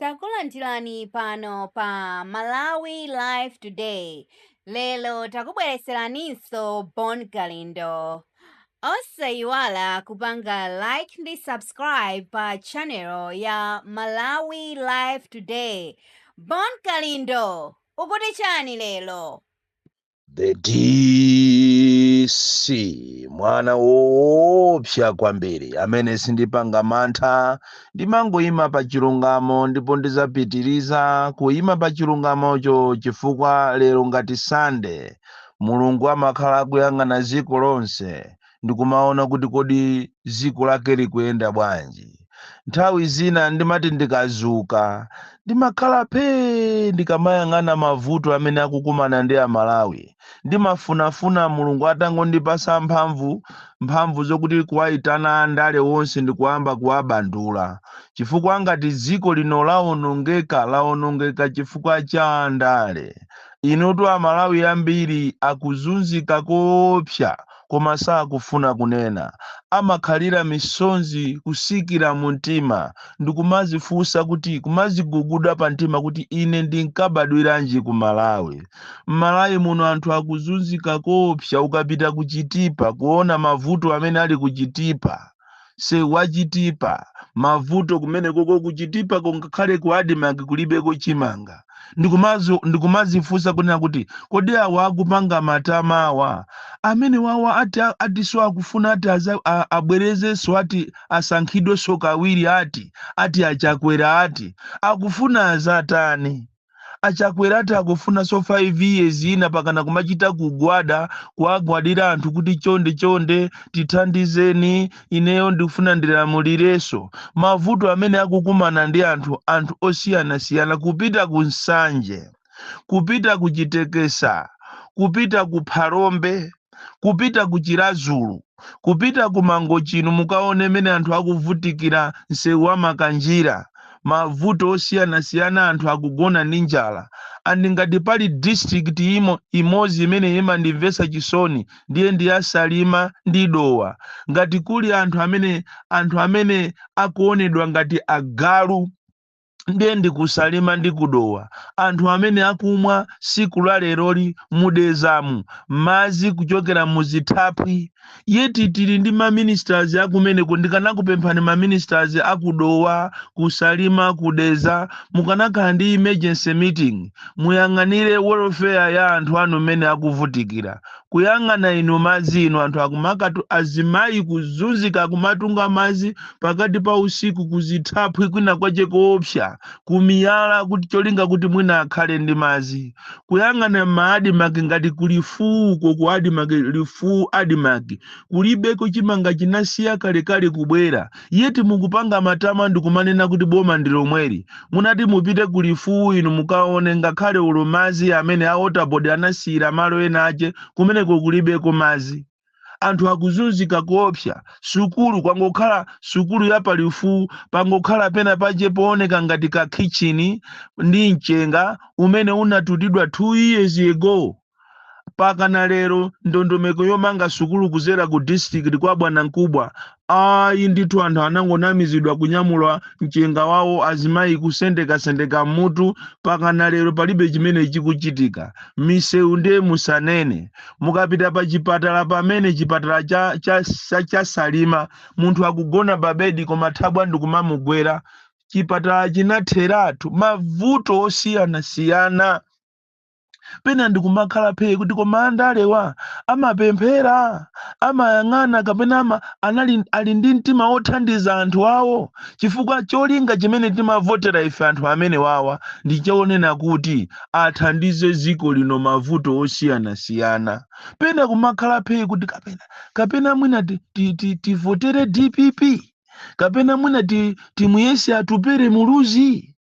Takulandirani pano pa Malawi Live Today. Lero takubweretseraninso Bon Kalindo. Osayiwala kupanga like ndi subscribe pa channel ya Malawi Live Today. Bon Kalindo, ukuti chani lero? the dc mwana woopsa kwambiri amene sindipanga mantha ndimangoyima pa chilungamo ndipo ndizapitiriza kuyima pa chilungamocho chifukwa lero ngati sande mulungu amakhala akuyang'ana dziko lonse ndikumaona kuti kodi ziko lake likuyenda bwanji nthawi zina ndimati ndikazuka ndimakhala phee ndikamayang'ana mavuto amene akukumana ndi amalawi ndimafunafuna mulungu atangondipasa mphamvu mphamvu zokuti kuwayitana andale wonse ndikuyamba kuwabandula chifukwa ngati dziko lino lawonongeka lawonongeka chifukwa cha andale inutu amalawi ambiri akuzunzika koopsa koma sakufuna kunena. Amakhalira misonzi kusikira mu mtima ndikumazifunsa kuti kumaziguguda pa mtima kuti ine ndinkabadwiranji ku Malawi. M'Malawi muno anthu akuzunzika koopsa ukapita ku Chitipa kuona mavuto amene ali ku Chitipa. se wachitipa mavuto kumene koko kuchitipa kungakhale ku admarc kulibeko chimanga Ndikumazo- ndikumazifunsa kunena kuti kodi awa akupanga matama awa amene wawa ati atiso akufuna ati aza- a- abwerezenso ati asankhidwenso kawiri ati ati achakwera ati akufuna azatani Achakwera ati akufunanso 5 years ina pakana kumachita kugwada kuwagwadira anthu kuti chonde chonde tithandizeni ineyo ndikufuna ndilamulirenso. Mavuto amene akukumana ndi anthu anthu osiyanasiyana kupita ku Nsanje, kupita ku Chitekesa, kupita ku Phalombe. kupita ku Chirazulu, kupita ku Mangochi inu mukaone mmene anthu akuvutikira msewu wa Makanjira, mavuto osiyanasiyana anthu akugona ndi njala and ngati pali district imo, imodzi imene imandimvetsa chisoni ndiye ndi ya Salima ndi Dowa. Ngati kuli anthu amene anthu amene akuonedwa ngati agalu. ndiye ndikusalima ndi kudowa anthu amene akumwa siku la leroli mudezamu madzi kuchokera muzithaphwi yet tili ndi maministers akumeneko ndikanakupemphani maministers akudowa kusalima kudeza mukanakhala ndi emergency meeting muyang'anire welfare ya anthu anu mmene akuvutikira kuyang'ana inu madzi inu anthu akumakatu azimayi kuzunzika kumatunga madzi pakati pa usiku kuzithaphwi kwina kwache koopsa kumiyala kuti cholinga kuti mwina akhale ndi madzi kuyang'ana maadimaki ngati ku Lifuwuko ku adimaki Lifuwu adimaki kulibeko chimanga chinasiya kalekale kubwera yet mukupanga matama ndikumanena kuti boma ndilomweli, munati mupite ku lifuwu inu mukaone ngakhale olo mazi amene a water board anasiyila malo ena ache kumeneko kulibeko mazi. anthu akuzunzika koopsa. sukulu kwangokhala sukulu ya pa lifuwu pangokhala pena pache pooneka ngati ka khitchini ndi mchenga umene unatutidwa 2 years ago. pakana lero ndondomeko yomanga sukulu kuzera ku district kwa bwanamkubwa ayi ndithu anthu anangonamizidwa kunyamula mchenga wawo azimayi kusendekasendeka mmutu pakana lero palibe chimene chikuchitika misewu ndiye musanene mukapita pa chipatala pamene chipatala cha, cha, cha, cha salima munthu akugona pa bedi koma thabwa ndikumamugwera chipatala chinatheratu mavuto osiyanasiyana pena ndikumakhala phee kuti koma andalewa amapemphera amayang'ana kapena ama anali ali ndi mtima wothandiza anthu awo chifukwa cholinga chimene timavotera ife anthu amene wawa ndi chonena kuti athandize dziko lino mavuto osiyanasiyana pena kumakhala phee kuti kapena kapena mwina ti- ti- ti- tivotere dpp kapena mwina ti- timuyese atupere muluzi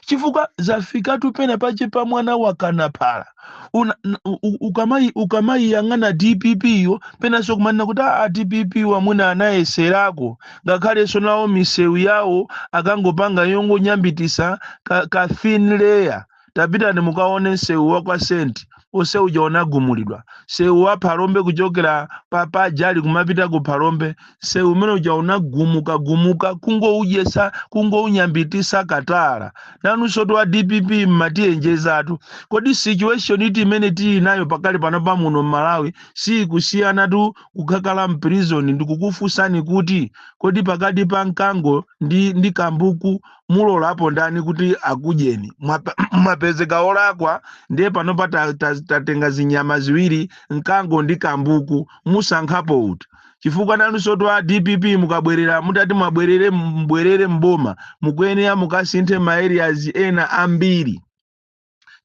chifukwa zafikatu pena pache pa mwana wakana phala Una- n- u- u- ukamayi- ukamayiyang'ana dpp yo penanso kumanena kuti a a dpp yo mwina anayeserako ngakhalenso nawo misewu yawo akangopanga yongonyambitisa ka, ka thin layer tapitani mukaone msewu wa kwa senti onse uja unagumulidwa sewu wa phalombe kuchokera pa Jali kumapita ku phalombe sewu umene uja unagumuka gumuka kungoujesa kungounyambitisa katala nanunsotu a dpp mmatiyenjezatu kodi situation iti imene tili nayo pakali panopa muno mmalawi siyikusiyanatu kukakhala mprizoni ndikukufunsani kuti kodi pakati pa mkango ndi, ndi kambuku mulolapo ndani kuti akudyeni Mwapa- mwapezeka olakwa ndiye panopa ta- ta- tatenga zinyama ziwiri mkango ndi kambuku musankhapo uti chifukwa nanunsotu a dpp mukabwerera mutati mwabwerere mbwerere mboma mukuyenera mukasinthe ma areas ena ambiri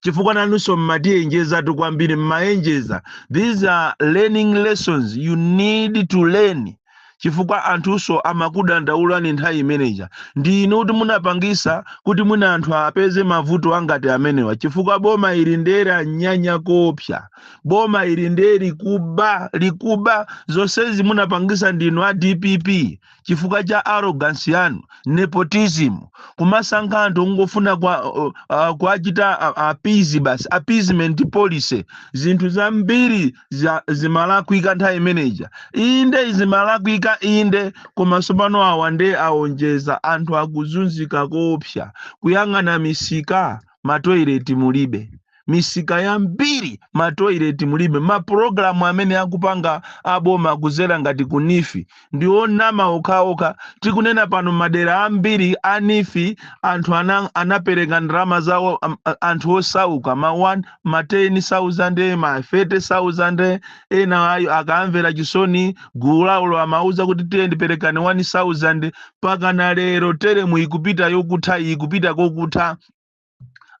chifukwa nanunso mmatiyenjezatu kwambiri mmayenjeza these are learning lessons you need to learn chifukwa anthunso amakudandaulani nthawi imeneja ndi inu kuti munapangisa kuti mwina anthu apeze mavuto angati amenewa chifukwa boma ili nde lanyanya koopsa boma ili nde likuba likuba zonsezi munapangisa ndinu a dpp chifukwa cha arrogance yanu nepotism kumasankha anthu ongofuna kwa uh, uh, kuachita uh, appease basi appeasement policy zinthu zambiri za- zimalakwika nthawi imeneja inde zimalakwika inde koma tsopano awa nde aonjeza anthu akuzunzika koopsa kuyang'ana misika matoileti mulibe misika yambiri matoilet mulibe mapulogalamu amene akupanga aboma kuzera ngati ku nifi ndi onama okhaokha tikunena pano madera ambiri a nifi anthu ana, anapereka ndalama zawo am- a- anthu osauka ma 1 ma 10000 ma 30000 ena ayi akawamvera chisoni gulu lawolo amawauza kuti tiyeni perekani 1000 mpaka na lero teremu ikupita yokutha iyi ikupita kokutha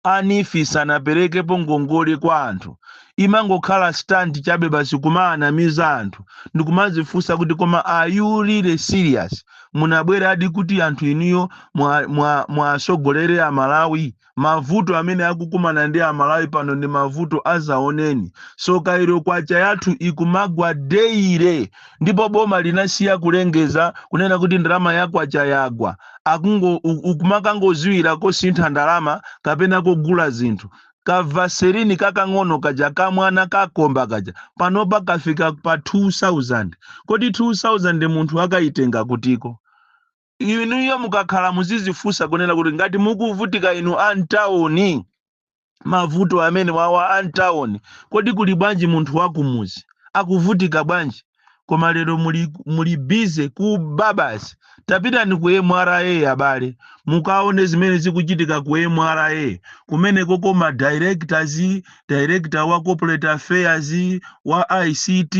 anifi sanaperekepo ngongole kwa anthu imangokhala stunt chabe basi kumaanamiza anthu ndikumazifunsa kuti koma are you really serious munabweradi kuti anthu inuyo mwasogolere mwa, mwa amalawi mavuto amene akukumana ndi amalawi pano ndi mavuto azaoneni so kairo kwacha yathu ikumagwa deire ndipo boma linasiya kulengeza kunena kuti ndalama yakwacha yagwa akungo u- ukumakangoziwira kosintha ndalama kapena kogula zinthu kavaserini kakang'ono kaja kamwana kakomba kaja panopa kafika pa 2000 kodi 2000 munthu akayitenga kutiko inuyo mukakhala muzizifunsa kunena kuti ngati mukuvutika inu a mtawuni mavuto amene wawa a mtawuni kodi kuli bwanji munthu wakumuzi akuvutika bwanji koma lero muli, muli bize kuba basi tapitani ku mra abale mukaone zimene zikuchitika ku mra kumeneko ma directors director wa corporate affairs wa ict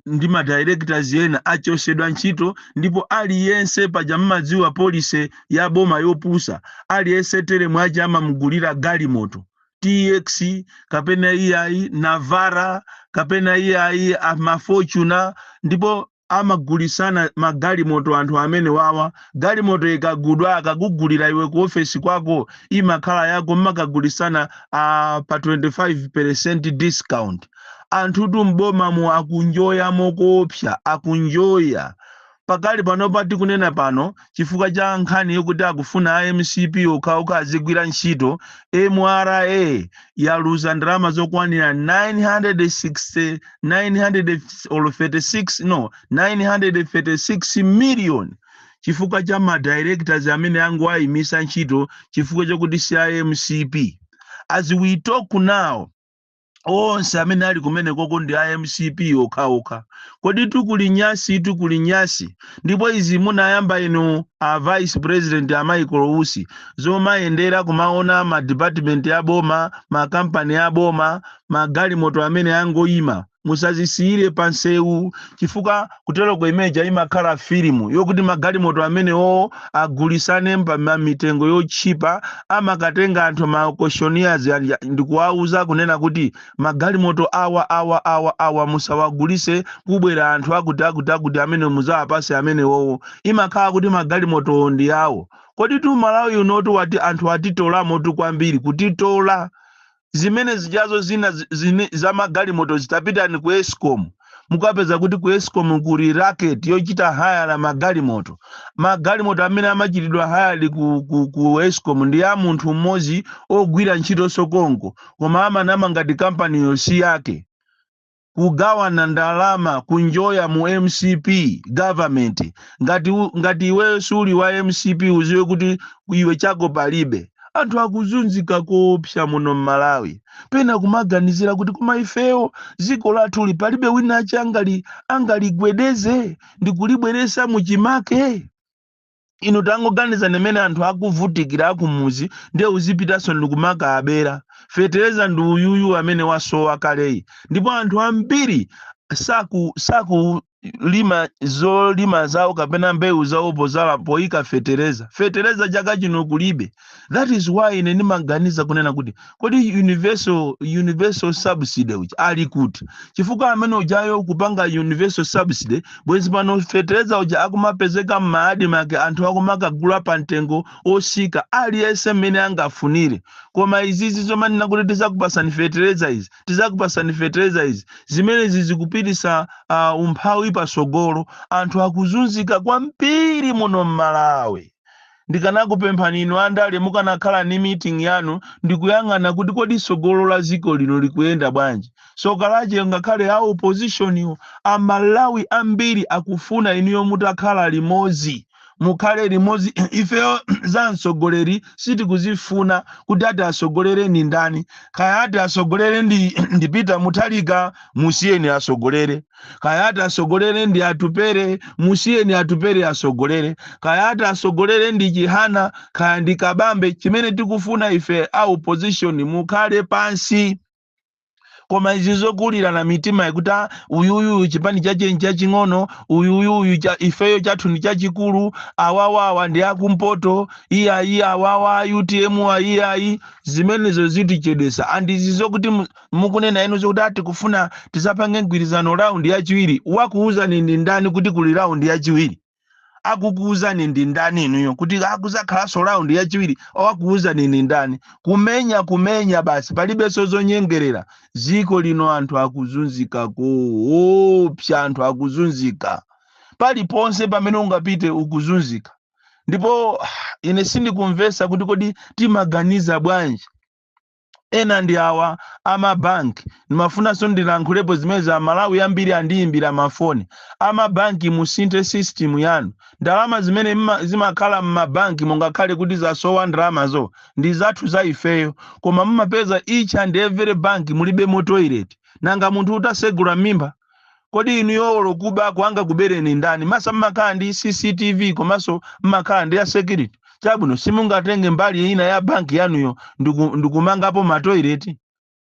ndi ma directors ena achosedwa ntchito ndipo aliyense paja mmadziwa policy ya boma yopusa aliyese teremu yake amamugulira galimoto tx kapena iyayi navara kapena iyayi amafortuna ndipo amagulisana magalimoto anthu amene wawa galimoto ikagudwa akakugulira iwe ku ofesi kwako imakhala yako mmakagulisana uh, pa 25% discount anthutu m'bomamu akunjoya mokoopsa akunjoya Pakali panopa tikunena pano, chifukwa cha nkhani yokuti akufuna a mcp okhaokha azigwira ntchito, mra yaluza ndalama zokwanira 936 million chifukwa cha ma directors amene angowaimisa ntchito chifukwa chokuti si a mcp. As we talk now. onse amene ali kumenekoko ndi a mcp okhaokha kodi tikuli nyasi tikuli nyasi ndipo izi munayamba inu a vice president a michael usi zomayendera kumaona ma department a boma makampani a boma magalimoto amene angoyima musazisiyire pansewu chifukwa kuteroko imeja imakhala filimu yokuti magalimoto amenewowo agulisane pa mitengo yotchipa amakatenga anthu ma auctioneers aja ndikuwauza kunena kuti magalimoto awa awa awa awa musawagulise kubwera anthu akuti akuti akuti amene muzawapase amenewowo imakhala kuti magalimotowo ndi awo kodi tu malawi unotu ati anthu atitolamotu kwambiri kutitola zimene zijazo zina za magalimoto mutapitani ku escom mukapeza kuti ku escom kuli racket yochita hire magalimoto magalimoto amene amachitidwa hired ku, ku, ku escom ndi a munthu mmodzi ogwira ntchito komko koma amanama ngati kampaniyo si yake kugawana ndalama kunjoya mu mcp government ngati iwe suli wa mcp uziwe kuti iwe chako palibe anthu akuzunzika koopsa muno mmalawi pena kumaganizira kuti koma ifeyo dziko lathuli palibe wina wake angaligwedeze ndikulibweresa muchimake inu tangoganizani mmene anthu akuvutikira akumuzi ndiye uzipitanso nkumakawabera fetereza ndi uyuyu amene wasowa kaleyu ndipo anthu ambiri saku sakulima zolima zawo kapena mbewu zawo pozala poyika fetereza fetereza chaka chino kulibe that is why ine ndimaganiza kunena kuti kodi universal universal subsidy uja ali kuti chifukwa amene ujayo kupanga universal subsidy bwezi pano fetereza uja akumapezeka m'ma admarc anthu akumakagula pa mtengo osika aliyense mmene angafunire koma izizi zomanena kuti tizakupasani fetereza izi zimenezi zikupitisa uh, umphawi pasogolo anthu akuzunzika kwambiri muno m'malawi Ndikanakupemphani inu andale mukanakhala ndi meeting yanu ndikuyang'ana kuti kodi tsogolo la dziko lino likuyenda bwanji. Tsoka lache ngakhale a opposition wo a Malawi ambiri akufuna inuyo mutakhala limodzi. Mukhale limodzi ifeyo za mtsogoleri sitikuzifuna kuti ati atsogolere ndi ndani. Kaya ati atsogolere ndi Peter Mutharika musiyeni atsogolere. kaya ati asogolere ndi atupere musiyeni atupere asogolere kaya ati asogolere ndi chihana kaya ndi kabambe chimene tikufuna ife a opposition mukhale pansi koma izi zokulirana mitima yokuti "Ah, uyuyu chipani chache nchaching'ono uyuyuyu cha, ifeyo chathu ndi chachikulu awawawa ndi akumpoto iyayi awawa utm ayiyayi zimenezo zitichedwesa and izi zokuti mu- mukunena inu zokuti ati kufuna tizapange mgwirizano round yachiwiri wakuuzani ndi ndani kuti kuli round yachiwiri akukuuzani ndi ndani inuyo kuti akuzakhalanso round yachiwiri wakuuzani ndi ndani kumenya kumenya basi palibenso zonyengerera ziko lino anthu akuzunzika koopsa anthu akuzunzika paliponse pamene ungapite ukuzunzika ndipo ah, ine sindikumvesa kuti kodi timaganiza bwanji ena ndi awa amabanki ndimafunanso ndilankhulepo zimene amalawi ambiri andiyimbira mafoni amabanki musinthe system yanu ndalama zimene mma- zimakhala mmabanki mungakhale kuti zasowa ndalamazo ndi zathu za ifeyo koma mumapeza each and every bank mulibemo toilet nanga munthu utasegula m'mimba kodi inuyo olo kubako angakubereni ndani masa mmakhala ndi cctv komanso mmakhala ndi a security chabwino simungatenge mbali ina ya banki yanuyo ndiku- ndikumangapo matoileti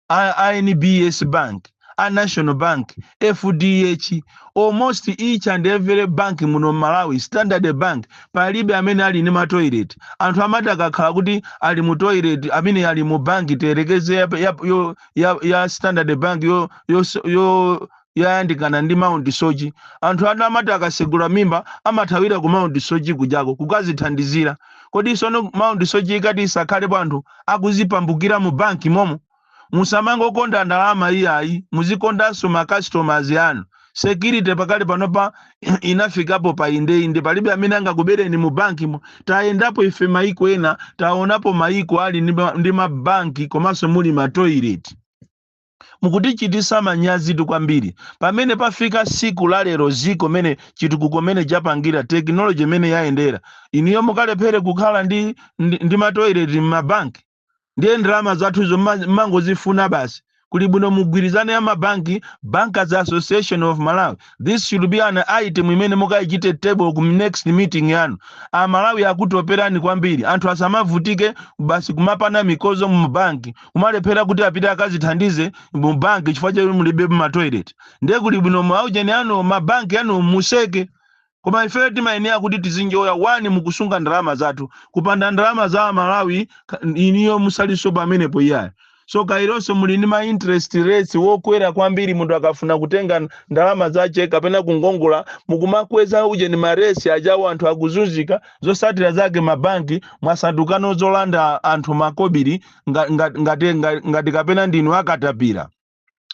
a a nbs bank a national bank fdh almost each and every bank muno malawi standard bank palibe amene ali ndi matoilet anthu amati akakhala kuti ali mu toilet amene ali mu banki tiyerekeze ya, ya, yo- ya, ya standard bank yo, yo, yo yayandikana ndi mount soche anthu anu amati akasegula mimba amathawira ku mount soche kujako kukazithandizira kodi sono mount soche ikati isakhalepo anthu akuzipambukira mu banki momo musamangokonda ndalama iyayi muzikondanso ma customers anu security pakali panopa inafikapo pa indeinde palibe amene angakubereni mu bankimo tayendapo ife maiko ena taonapo maiko ali ndi ma- ndi mabanki komanso muli matoilet mukutichitisa manyazitu kwambiri pamene pafika siku la lero ziko mene chitukuko mene chapangira tekinoloji imene yayendera inuyo mukalephere kukhala ndi, ndi, ndi matoilet m'mabanki ndiye ndalama zathuzo mma- mmangozifuna basi kuli bwino mugwirizane a mabanki bankers association of malawi this should be an item imene mukayichite table ku next meeting yanu amalawi akutoperani kwambiri anthu asamavutike basi kumapana mikozo mu banki kumalephera kuti apite akazithandize mu banki chifukwa chakuti mulibe matoilet ndiye kuli bwino maujeni anu mabanki anu museke Koma ifeyo timayenera kuti tizinjoya one mukusunga ndalama zathu. Kupanda ndalama za Amalawi ka- inuyo musalinso pamenepo iyayi. Soka ironso muli ndi ma interest rates wokwera kwambiri munthu akafuna kutenga n- ndalama zache kapena kungongola mukumakweza ujeni ma rates ajawo anthu akuzunzika zosatira zake mabanki mwasandukano zolanda anthu makobiri nga- nga- ngati nga- ngati kapena ndinu akatapira.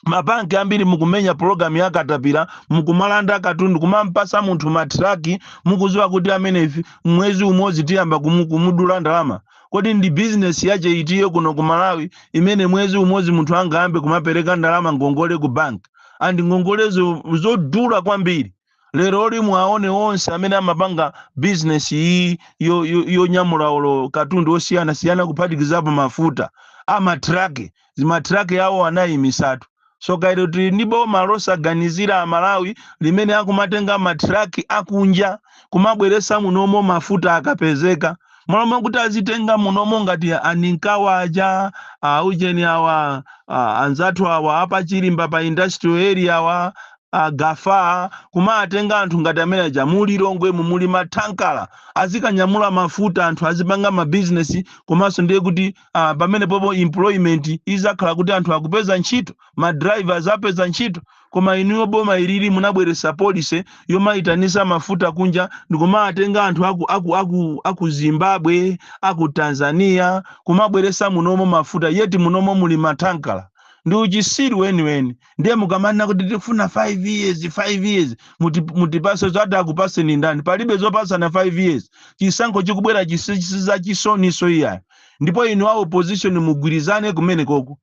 mabanki ambiri mukumenya pologalamu ya katapira mukumalanda katundu kumampasa munthu matraki mukuziwa kuti ameneyu mwezi umodzi tiyamba kumu- kumudula ndalama kodi ndi bizinesi yache itiyo kuno ku malawi imene mwezi umodzi munthu angayambe kumapereka ndalama ngongole ku banki and ngongolezo zodula kwambiri leroli muwaone onse amene amapanga bizinesi iyi yo- yo- yonyamula olo katundu osiyana siyana kuphatikizapo mafuta amatraki matraki awo anayimisatu soka iro tili ndi boma losaganizira amalawi limene akumatenga matraki akunja kumabweresa munomo mafuta akapezeka malo mwakuti azitenga munomo ngati aninkawa aja aujeni awa a, anzathu awa a pa chirimba pa industrial area awa a gafa kumatenga anthu ngati amene aja mu lilongwemu muli mathankala azikanyamula mafuta anthu azipanga mabizinesi komanso ndiye kuti uh, pamenepopo employment izakhala kuti anthu akupeza ntchito madrivers apeza ntchito koma inuyo boma ilili munabweresa policy yomaitanisa mafuta kunja ndikumawatenga anthu aku, aku, aku, aku zimbabwe aku tanzania kumabweresa munomo mafuta yet munomo muli mathankala ndi uchisiru weniweni ndiye mukamanena kuti tifuna 5 years 5 years muti- mutipase zoti akupaseni ndani palibe zopasana 5 years chisankho chikubwerachi si za chisoniso iyayo ndipo inu a opposition mugwirizane kumene koko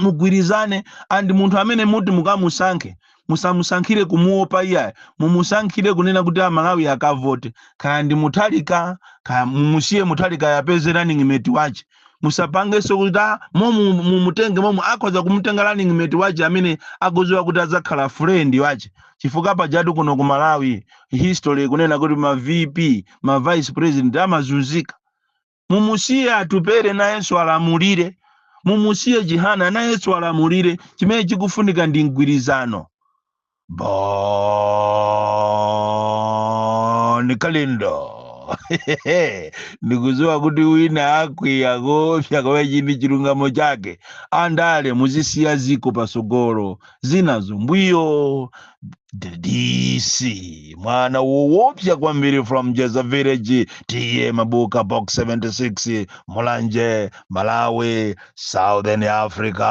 mugwirizane and munthu amene muti mukamusankhe musamusankhire kumuopa iyayo mumusankhire kunena kuti amalawi akavote kaya ndi muthalika kaya mumusiye muthalikayo apeze running mate wache musapangenso kuti "Ah, momu mumutenge momu akhoza kumutenga running mate wache amene akuziwa kuti adzakhala friend wache chifukwa pajatu kuno ku malawi history kunena kuti ma vp ma vice president amazunzika mumusiye atupere nayenso alamulire mumusiye chihana nayenso alamulire chimene chikufunika ndi mgwirizano bon kalindo ndikuziwa kuti wina akwiya kopsa kwa chini chilungamo chake andale muzisiya ziko pasogolo zinazo mbuyo DC mwana woopsa kwambiri from jeza village T/A mabuka box 76 mulanje malawi southern africa